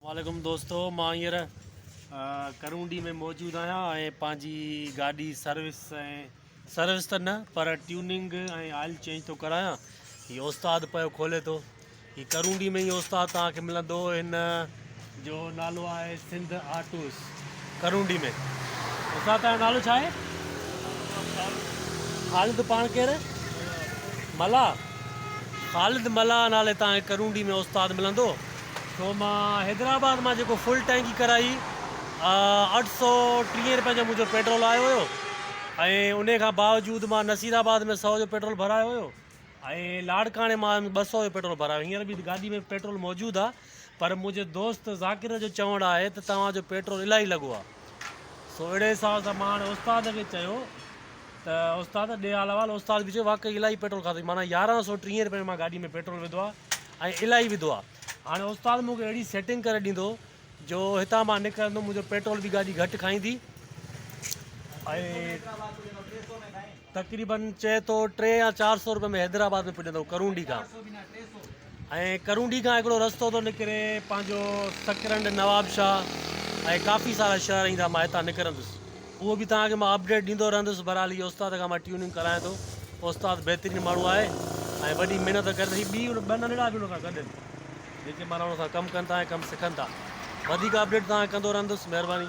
وعليڪم دوستو مان هينئر ڪرونڊي ۾ موجود آهيان ۽ پنهنجي گاڏي سروس ۽ سروس ته نه پر ٽيوننگ ۽ آئل چينج ٿو ڪرايان هي استاد پيو کولي ٿو هي ڪرونڊي ۾ هي استاد توهان کي ملندو هن جو نالو آهي سنڌ آٽوس ڪرونڊي ۾. استاد تنهنجو نالو ڇا آهي؟ خالد پاڻ ڪير؟ ملاح خالد ملاح نالي تان کي ڪرونڊي ۾ استاد ملندو ڇو مان حيدرآباد مان جيڪو فل ٽينڪي ڪرائي اٺ سؤ ٽيهه رپين جو منهنجو پيٽرول آيو هيو ۽ انهي کان باوجود مان نصير آباد ۾ سؤ جو پيٽرول ڀرايو هيو ۽ لاڙڪاڻي مان ٻه سؤ جو پيٽرول ڀرايو هينئر به گاڏي ۾ پيٽرول موجود آ پر منهنجي دوست ذاڪر جو چوڻ آهي ته توهان جو پيٽرول الاهي لڳو آهي. سو اهڙي حساب سان مان هاڻي استاد کي چيو ته استاد ڏي حال احوال استاد به چيو واقعي الاهي پيٽرول کاڌوئي معنيٰ يارهن سو ٽيهين رپين مان گاڏي ۾ پيٽرول وڌو آهي ۽ الاهي وڌو آهي هاڻي استاد مون کي اهڙي سيٽنگ ڪري ڏيندو جو هتان مان نڪرندم منهنجو پيٽرول به گاڏي گهٽ کائيندي ۽ تقريبن چئي ٿو ٽي يا چار سئو روپئي ۾ حيدرآباد ۾ پڄندو ڪرونڊي کان ۽ ڪرونڊي کان هڪڙو رستو ٿو نڪري پنهنجو سڪرنڊ نوابشاهه ۽ ڪافي سارا شهر ايندا مان هتان نڪرندس اهو به توهان کي مان اپڊيٽ ڏيندو رهندس بهرحال هي استاد کان مان ٽيوننگ ڪرايان ٿو استاد بهترين ماڻهو آهي ۽ وڏي محنت ڪري ٿي ٻي ٻه ننڍڙا به ان سان گڏ جيڪي مانا ان سان ڪم ڪن ٿا ۽ ڪم سکن ٿا وڌيڪ اپڊيٽ توهان کي ڪندو رهندس مهرباني